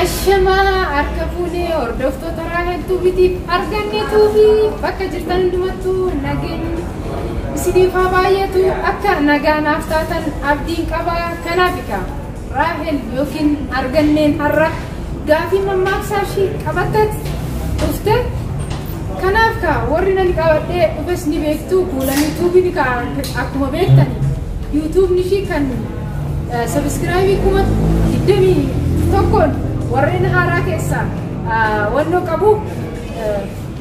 Ashamaa harka fuunee hordoftoota raahiltuu bitiif arganneetuu fi bakka jirtan hundumattuu nageenyi isiniif haa baay'atu akka nagaa naaf taatan abdiin qaba kanaaf egaa raahel yookiin arganneen har'a gaafii mammaaksaa ishii qabatteet dhufte kanaaf kaa warri nan qabadhee dhufes ni beektu kuulanii tuubiin kaa akkuma beektan yuutuubni ishii kan Sabiskiraayibii kuma digdamii tokkoon warreen haaraa keessaa wannoo qabu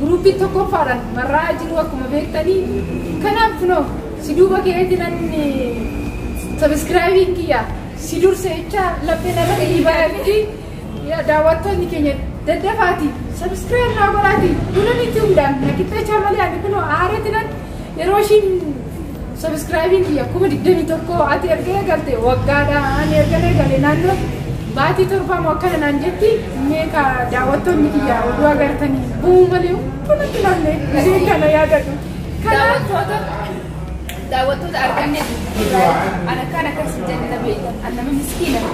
guruuppii tokkoffaadhaan marraa jiru akkuma beektanii kanaaf kunoo si duuba keetti nan sabiskiraayibiin kiyya si dursa jecha lapheen irra gahii baay'atti daawwattoonni keenya daddafaati sabiskiraayib naa godhaati duula nitti hundaan na qixxeechaa malee ani kunoo aareetti nan Yeroo ishiin sabiskiraayibiin kiyya kuma digdamii tokko ati erga eegalte waggaadha ani erga eegale naannoo baatii torbaa moo akkana naan jetti meeqa daawwattoonni kiyya oduu agartanii bu'uu malee hundumatti namne isiin kana yaadadhu. Kanaaf daawwattoota arganne ana kaan akkas hin jenne na beektan ana nama miskiina.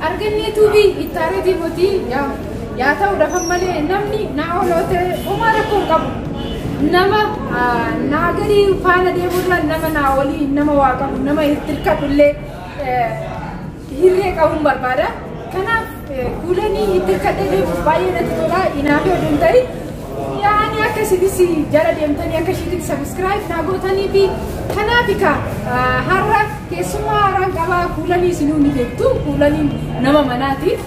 Argannee tuubii ittaa retii motii yaa yaa ta'u dhafan malee namni naa oloote homaa rakkoo hin qabu. Nama ah, naa gadii faana deemurra nama naa olii nama waa qabu nama itti hirkadhu illee eh, hirree qabuun barbaada. Kanaaf eh, kuulanii itti hirkadhee deemuuf baay'ee natti tola. Inaafee oduu hin ta'in. Yaani akka isitis jala deemtanii akka ishiititti sabiskiraayib naa gootanii fi kanaaf ka har'a keessummaa haaraan qabaa kuulanii isinuu ni beektu kuulaniin nama manaatiif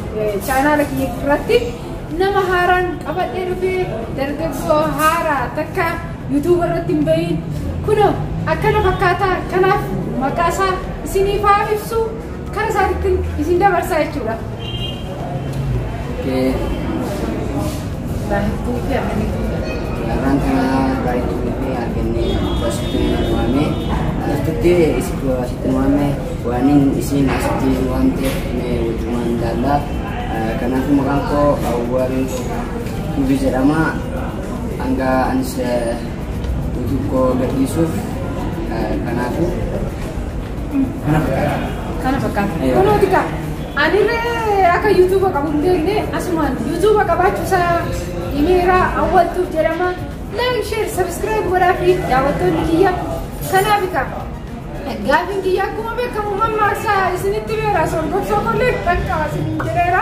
chaanaala kiyya irratti nama haaraan qabadhee dhufee dargaggoo haaraa takka yuutuuba irratti hin bahin kunoo akkana fakkaataa kanaaf maqaa isaa isiniif haa ibsu Kan isaatitti isin dabarsaa jechuudha. Oke. Baay'ee fi akkamitti. Lamaan kana baay'ee tuufi arganne asitti waame. Asitti isitti asitti waame waan isin asitti waan ta'eef mee wajjumaan ilaalla. Kanaaf maqaan koo Awwal Tubi jedhama. Hanga anis YouTube koo gadhiisuuf kanaafuu. Kana fakkaata. Kunooti kaa. Anillee akka yuutuuba qabu hin beekne asumaan yuutuuba qabaachuu isaa himeera awwaltuuf jedhama. Laayik sheer sabiskiraayib godhaa fi daawwattoonni kiyya kanaaf kaa. Gaafiin kiyya akkuma beekamu mammaaksa isinitti beera sorgobsoo kollee kan qaba isiniin jedheera.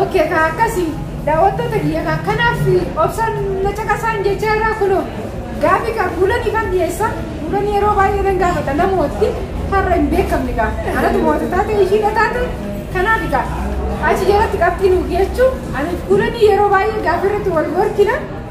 Okay, kaa akkasii daawwattoota kiyya kaa kanaaf obsaan na caqasaan jecha irraa kunoo gaafi kaa fuulanii kan dhiyeessa fuulanii yeroo baay'ee nan gaafata namooti har'a hin beekamne kaa anatu moota taate ishiidha taate kanaaf kaa achi jalatti qabxii nuuf jechuu ani fuulanii yeroo baay'ee gaafi irratti wal gorkina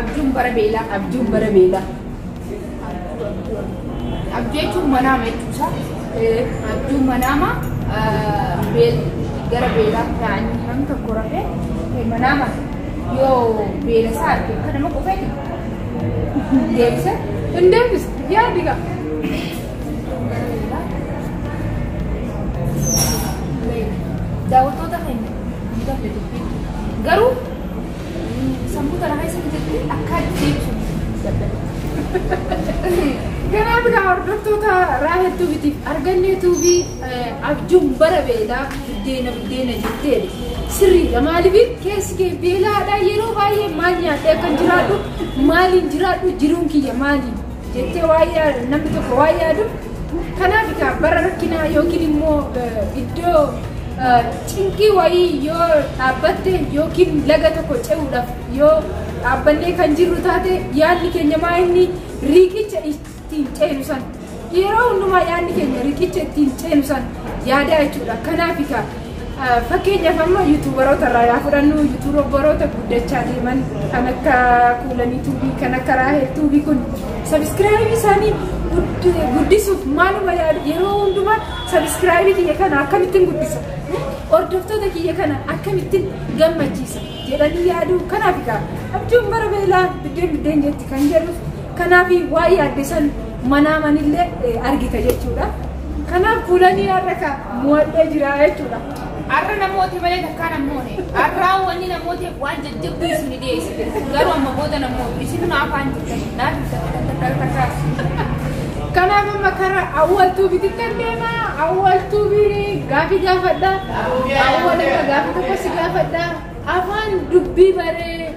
Abjuun bara beelaa. Abjuun bara beelaa. Abjuu jechuun manaama jechuusaa. Abjuun manaama gara beelaa ta'anii nam tokko rafee manaama yoo beela isaa arge akka nama qufeeti. Deebisa. Hin deebisa. Yaadi gaa. Daawwattoota keenya hin gabbatu. Garuu Sammuu kana keessa bitatee akka jechuun dadhabe. Kanaaf egaa hordoftoota Raahel Tuubitiif argannee tuubii abjuun bara beelaa buddeena buddeena jettee sirriidha. Maaliif keessi kee beelaadha yeroo baay'ee maal nyaadhee akkan jiraadhu maaliin jiraadhu jiruun kiyya maaliin jettee waan yaa- namni tokko waan yaadu kanaaf egaa bara rakkinaa yookiin immoo eh, iddoo eh, cinqii wayii yoo dhaabbatte yookiin laga tokko ce'uudhaaf yoo dhaabbannee kan jirru taate yaadni keenya maa inni riiqicha ittiin ceenu san yeroo hundumaa yaadni keenya riiqicha ittiin ceenu san yaadaa jechuudha kanaaf egaa Fakkeenyaaf amma yuutuubaroota irraa yaa fudhannu yuutuubaroota guddachaa deeman kan akka kuulanii tuubii kan akka raahel tuubii kun sabiskiraayibii isaanii guddisuuf maaluma yaadu yeroo hundumaa sabiskiraayibii kiyya kana akkamittiin guddisa hordoftoota kiyya kana akkamittiin gammachiisa jedhanii yaadu kanaaf egaa abjuun bara beelaa biddeen biddeen jetti kan jedhuuf Kanaaf waa yaadde san manaa manillee argita jechuudha. Kanaaf kuulanii har'a ka mo'adhee jira jechuudha. Har'a namooti malee takkaa namoone. Har'aa wanni namooti waan jajjabduu isin dhiyeessite. Garuu amma booda namooti isin afaan jirtan. Naaf takka takka takka. Kanaaf amma kara awwaltuu bitittan deema. Awwaltuu biri gaafii gaafadha. Awwal irra gaafii tokko si gaafadha. Afaan dubbii baree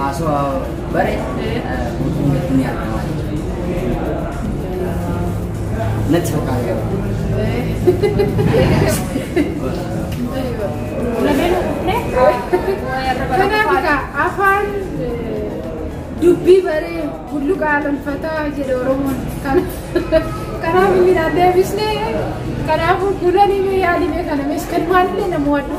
Haasoo bare guutuu mitti ni argama natti fakkaata garuu. Kanaaf egaa afaan dubbii baree bulluqa alonfataa jedhe Oromoon. Kanaaf inni naan deebisne kanaafuu kuulanii mee yaalimee kana mees kan maalillee nama waaddu.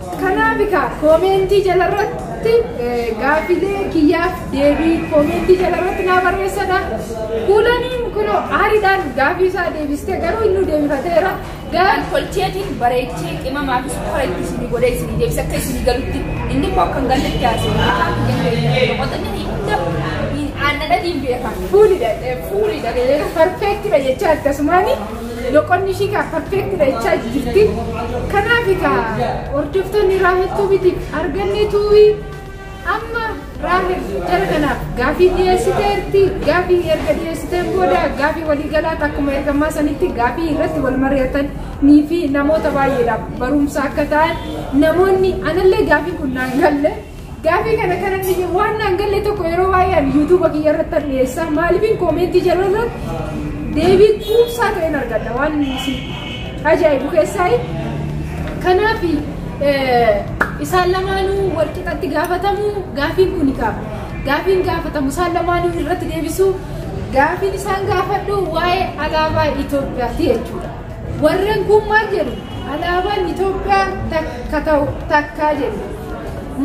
Kanaaf egaa koomeentii jalarratti gaaffilee kiyyaaf deebii koomeentii jalarratti naa barreessadha. Kuulaniin kunoo aariidhaan gaaffii isaa deebistee garuu inni deebifateera. Gaal tolcheetiin bareechee qimamaa fi sukkara itti isinii godhee isinii deebisa akka isinii galutti inni koo akkan galletti haasa'u. Afaan kiyya ta'e namootni hunda aannadhatiin beekan. Fuulidha. Fuulidha. Perfeektidha jechaa akkasumaani. Loqonni ishii kaa perfeektidha jechaa jirti. Kanaaf egaa hordoftoonni Raahel Tuubiitiif argannee tuuwii amma Raahel jara kanaaf gaafii dhiyeessiteerti. Gaafii erga dhiyeessiteen booda gaafii waliigalaatti akkuma ergamaa sanitti gaafii irratti wal mari'atanii fi namoota baay'eedhaaf barumsa akka ta'an namoonni anallee gaafii kun naan galle Gaafii kana kana dhiyye waan naan galle tokko yeroo baay'ee ani yuutuuba kiyya irratti an dhiyeessaa maaliifin koomentii jala irratti deebii quubsaa ta'een argadha waan isin ajaa'ibu keessaayi. Kanaaf isaan lamaanuu wal qixatti gaafatamu gaafiin kun qaba. Gaafiin gaafatamu isaan lamaanuu irratti deebisu gaafiin isaan gaafadhu waa'ee alaabaa Itoophiyaati jechuudha. Warren kun maal jedhu? Alaabaan Itoophiyaa takka ta'u takkaa jedhu.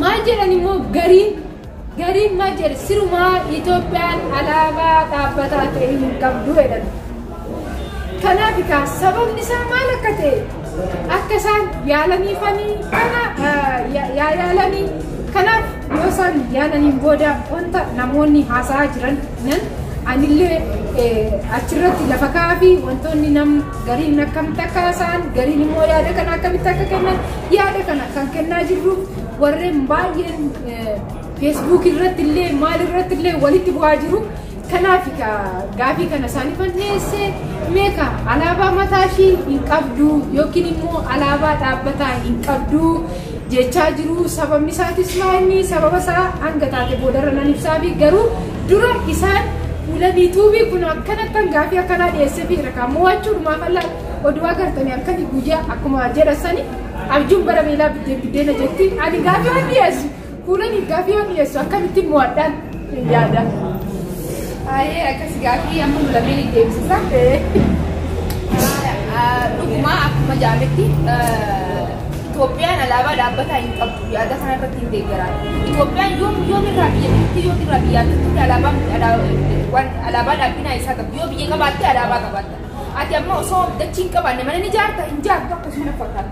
Maal jedhan immoo gariin gariin maal jedhe sirumaa Itoophiyaan alaabaa dhaabbataa ta'e hin qabdu jedhan. Kanaaf egaa sababni isaa maal akka ta'e akka isaan yaalaniifanii kana yaa yaalanii kanaaf Yoo isaan yaalaniin booda wanta namoonni haasa'aa jiran nan anillee achirratti lafa ka'aa fi wantoonni nam gariin akkamitti akka haasa'an gariin immoo yaada kana akkamitti akka kennan yaada kana kan kennaa jirru warreen baay'een feesbuuk irratti illee maal irratti illee walitti bu'aa jiru. Kanaafi kaa gaafii kana isaanifan dhiyeesse mee kaa alaabaa mataa ishii hin qabdu yookiin immoo alaabaa dhaabbataa hin qabdu jechaa jiru sababni isaatis maa inni sababa isaa hanga taate boodarra nan ibsaafi garuu dura isaan fuula biituubii kun akkana akkan gaafii akkanaa dhiyeesseefi jira kaa mo'achuu dhumaaf allaa oduu agartanii halkanii guyyaa akkuma jedhasanii abjuun bara beelaa biddeen biddeena jetti ani gaafii waan dhiyeessu Kuulan gaaffii yoo dhiyeessu akkamittiin mo'adhaan hin yaada. Baay'ee akkas gaaffii amma nu lameen itti eegsisa. Dhuguma akkuma jaametti Itoophiyaan alaabaa dhaabbataa hin qabdu yaada kana irratti hin deeggaraa. Itoophiyaan yoom yoom irraa biyya jirti yoom irraa biyya jirti alaabaan waan alaabaa dhaabbinaa isaa qabdu yoo biyya qabaatte alaabaa qabaatta. Ati amma osoo dachii hin qabaanne mana ni jaarta hin jaartu akkasuma fakkaata.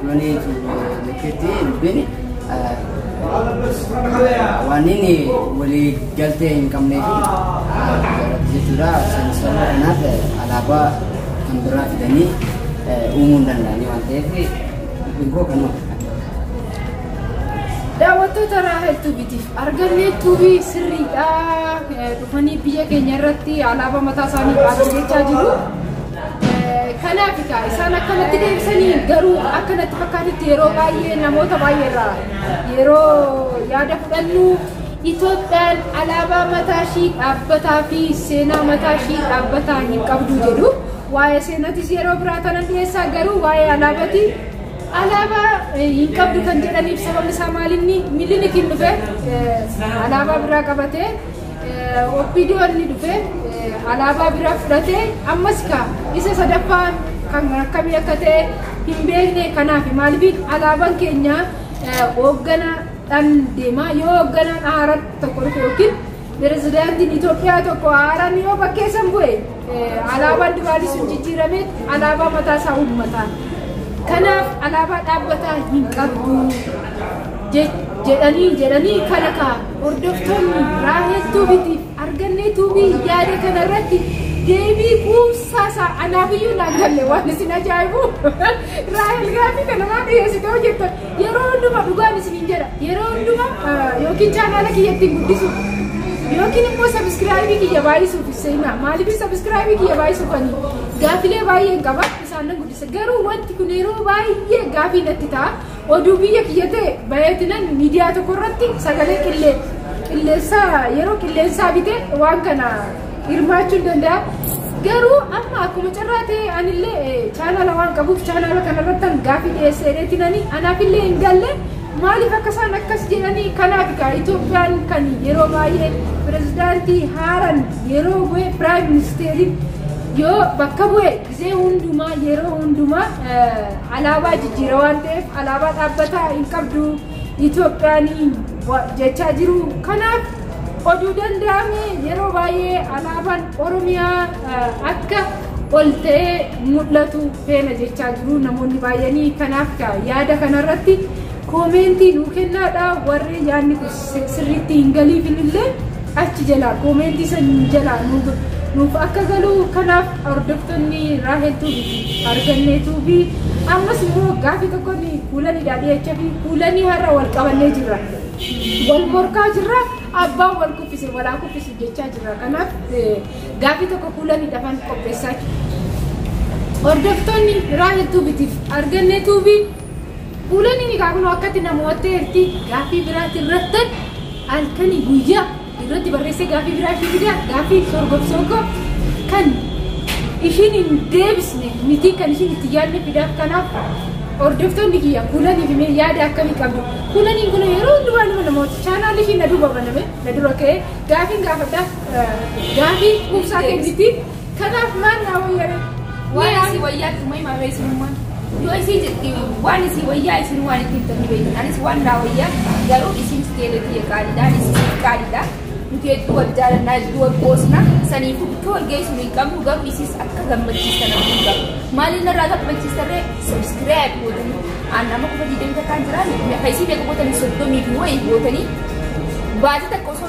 Kuni nukitti dubbiin waan inni walii galtee hin qabnee fi jalatti jechuudha. San sababa kanaaf alaabaa kan biraa fidanii uumuu hin danda'anii waan ta'eef dubbiin koo kanuma. Daawwattoota Raahel Tuubitiif argannee tuubii sirriidha. Dhufanii biyya keenya irratti alaabaa mataa isaanii qabatachaa jiru. Kanaaf egaa isaan akka natti deebisanii garuu akka natti fakkaatutti yeroo baay'ee namoota baay'ee irraa yeroo yaada fudhannu Itoophiyaan alaabaa mataa ishii dhaabbataa fi seenaa mataa ishii dhaabbataa hin qabdu jedhu. Waa'ee seenatis yeroo biraa tanan dhiyeessaa garuu waa'ee alaabati alaabaa hin qabdu kan jedhaniif sababni isaa maalinni mililik hin dhufe alaabaa biraa qabatee Opdo inni dhufe alaabaa biraa fudhatee ammas ka isa sadaffaan kan akkamii akka ta'e hin beekne kanaaf maaliif alaabaan keenya hoogganaadhaan deema yoo hoogganaan haaraa tokko dhufe yookiin pirezidaantiin Itoophiyaa tokko haaraan yoo bakkeessan bu'e alaabaan duraanii sun jijjiiramee alaabaa mataa isaa uummataa kanaaf alaabaa dhaabbataa hin qabdu jedhanii jedhanii kana kaa'u. Hordoftoonni Raahel Tuubiitiif Argannee Tuubii yaada kana irratti deebii quubsaa isaa anaaf iyyuu naan galle waan isin ajaa'ibu Raahel gaaffii kana waan dhiyeessite yoo jettan yeroo hundumaa dhugaan isiniin jedha yeroo hundumaa yookiin chaanaala kiyya ittiin guddisuuf yookiin immoo sabiskiraayibii kiyya baay'isuuf seenaa maaliif sabiskiraayibii kiyya baay'isuufanii gaaffilee baay'een qaba isaan nan guddisa garuu wanti kun yeroo baay'ee gaaffii natti ta'a Oduu biyya kiyya ta'e baay'atinan miidiyaa tokko irratti sagalee qilleensaa yeroo qilleensaa bite waan kana hirmaachuun danda'a. Garuu amma akkuma carraa ta'e anillee chaanaala waan qabuuf chaanaala kanarratti gaaffii dhiyeessee dheetinanii anaafillee hin galle maaliif akka isaan akkas jedhanii kanaaf egaa Itoophiyaan kan yeroo baay'ee pirezidaantii haaran yeroo bu'e piraayim ministeeriin yoo bakka bu'e Gizee hundumaa, yeroo hundumaa alaabaa jijjiira waan ta'eef alaabaa dhaabbataa hin qabdu Itoophiyaan jechaa jiru. Kanaaf oduu danda'ame yeroo baay'ee alaabaan Oromiyaa akka ol ta'ee mul'atu feena jechaa jiru namoonni baay'anii. Kanaaf yaada kanarratti koomeentii nuu kennaadha warri yaadni kun sirriitti hin galiifin illee achi jalaa koomeentii san jalaa nuuf akka galuu kanaaf hordoftoonni Raahel Tuubiiti argannee tuubii ammas immoo gaafii tokkoon kuulaniidhaa dhiyacha fi kuulanii har'a wal qabannee jirra wal morkaa jirra abbaan wal kuffise walaa kuffisu jechaa jirra kanaaf gaafii tokko kuulanii dhafan qopheessaa hordoftoonni Raahel Tuubiitiif argannee tuubii Uulaniin egaa kunoo akkatti na mo'atteerti gaaffii biraatti irrattan halkanii guyyaa irratti barreessee gaaffii biraa ishii fidaa gaaffii sorgobsoo koo kan ishiin hin deebisne miti kan ishiin itti yaadne fidaaf kanaaf hordoftoonni kiyya kuulanii fi mee yaada akkamii qabdu kuulaniin kun yeroo hundumaa nama namoota chaanaalli ishii na duuba baname na dura ka'ee gaafiin gaafadhaaf gaafii quubsaa kenniti Kanaaf maal naa wayya ree? Waan isii wayyaa itti uumee maarree isinummaan. Yoo isii jetti waan isii wayyaa isin waan itti himtan ni beektan. Anis waan naa wayyaa garuu isiin sigeelee biyya qaaliidha. Anis isiin qaaliidha. Nuti hedduu wal jaalannaa hedduu wal qoosna. Saniifuu bikkee wal geessuun hin qabnu garuu isiis akka gammachiistan abdii hin qabu. Maaliin narraa gammachiistarree subscribe gootanii. Aan nama qofa diidamta kan jiraan. Meeqa isii meeqa gootanii soddomii fi wayii gootanii. Baasii takka osoo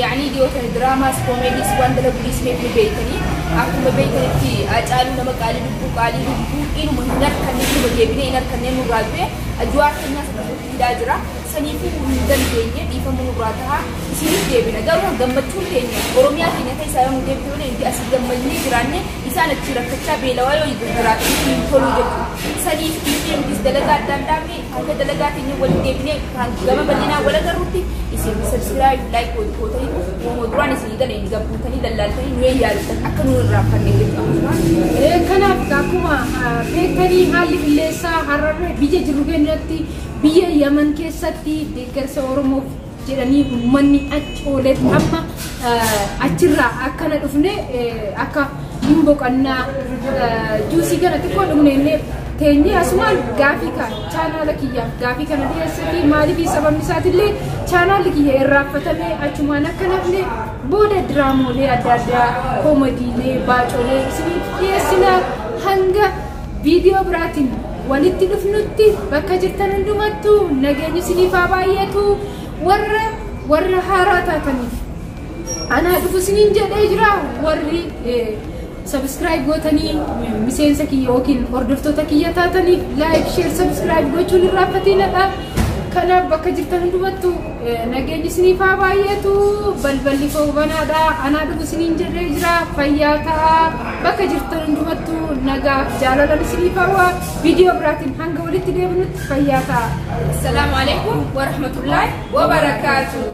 Yaanii dhiyoo tana diraamaas koomeediis waan dalaguu dhiisnee bulu beektanii akkuma beektanitti Haacaaluu nama qaalii lubbuu qaalii lubbuu inuma hin arkanne inuma deebinee hin arkanne nurraa du'e Ajuwaar keenyaas akka nutti hidhaa jira saniifuu nu hin dandeenye dhiifama nurraa tahaa isiiniif deebina garuu gammachuun keenya Oromiyaa keenya keessaa yoo nu deebite malee nuti asii gammadnee jiraanne isaan achii rakkachaa beelawaa yoo jiraataniif hin toluu jechuudha saniif dhiisnee nutis dalagaa addaan dhaabne Kaayyoo dalagaa keenya waliin deebinee kan gama bal'inaan wal agarrutti isin subscribe like waliin gootanii uumoo duraan isin galee hin gabbuutanii lallaaltanii nu yaadatan akka nu irraa fanne jechuudha. Kanaaf akkuma beektanii haalli qilleensaa hararree biyya jirru keenyatti biyya Yaman keessatti deeggarsa Oromoof jedhanii uummanni achi oolee fi amma achirraa akkana dhufne akka hin boqannaa juusii kana xiqqoo dhumneennee teenyee asumaan gaafii kan chaanaala kiyyaaf gaafii kana dhiyeessati maaliif sababni isaatillee chaanaalli kiyya irraaffatamee achumaan akka nafne booda diraamoolee adda addaa koomadiilee baacoolee isiniif dhiyeessina hanga viidiyoo biraatiin walitti dhufnutti bakka jirtan hundumattu nageenyi isiniif haa baay'atu warra warra haaraa taataniif anaa dhufu isiniin jedhee jira warri sabiskiraayib gootanii miseensa kiyya yookiin hordoftoota kiyya taataniif laayik sheer sabiskiraayib gochuun irraa fatiinadha kanaaf bakka jirtan hundumattu Nageenyi isiniif haa baay'atu balballi koo banaadha anaa dhufu isiniin jedhee jira fayyaa ta'a bakka jirtan hundumattu nagaaf jaalalan isiniif hawwa viidiyoo biraatiin hanga walitti deebinutti fayyaa ta'a. Assalaamu alaikum warahmatullahi wabarakaatu.